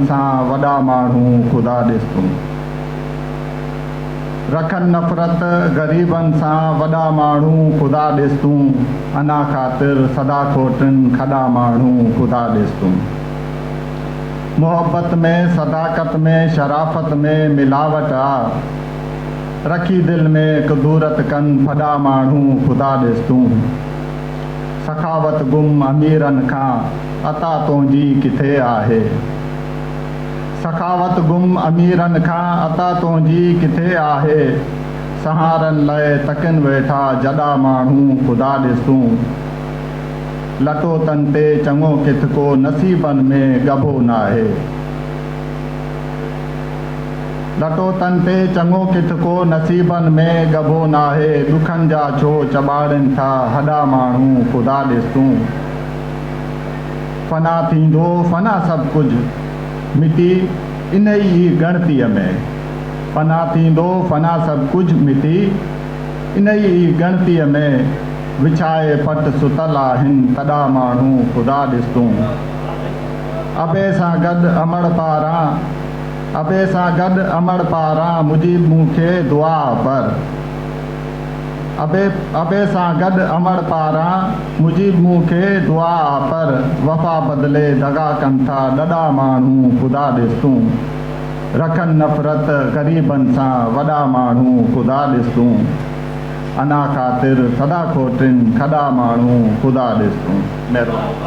سان وڏا ماڻهو خدا ڏس تون رکن نفرت غريبن سان وڏا ماڻهو خدا ڏس تون انا خاطر سدا کوٽن کڏا ماڻهو خدا ڏس تون محبت ۾ صداقت ۾ شرافت ۾ ملاوٽ آ رکي دل ۾ ڪدورت ڪن ڦڏا ماڻهو خدا ڏس تون. سخاوت گم اميرن کان عطا تنهنجي ڪٿي آهي؟ سخاوت گم اميرن کان عطا تنهنجي ڪٿي آهي؟ سهارن لئه تڪين ويٺا جڏا ماڻهو خدا ڏستون. لٽو تن تي چڱو ڪٿ ڪو نصيبن ۾ ڳڀو ناهي. ڏٽو تن تي چڱو ڪٿ ڪو، نصيبن ۾ ڳڀو ناهي ڏکن جا ڇو چٻاڙين ٿا هڏا ماڻهو، خدا ڏس تون فنا ٿيندو فنا سڀ ڪجهه مٽي انهي ئي ڳڻتي ۾ فنا ٿيندو فنا سڀ ڪجهه مٽي انهي ئي ڳڻتي ۾ وڇائي پٽ ستل آهن تڏا ماڻهو، خدا ڏس تون. ابي سان گڏ امڙ پاران ابي سان گڏ امڙ پاران مجيب مون کي دعا پر ابي ابي سان گڏ امڙ پاران مجيب مون کي دعا پر وفا بدلي دغا ڪن ٿا ڏڏا ماڻهو خدا ڏس تون رکن نفرت غريبن سان وڏا ماڻهو خدا ڏس تون انا خاطر سڏا کوٽين کڏا ماڻهو خدا ڏس تون مهرباني.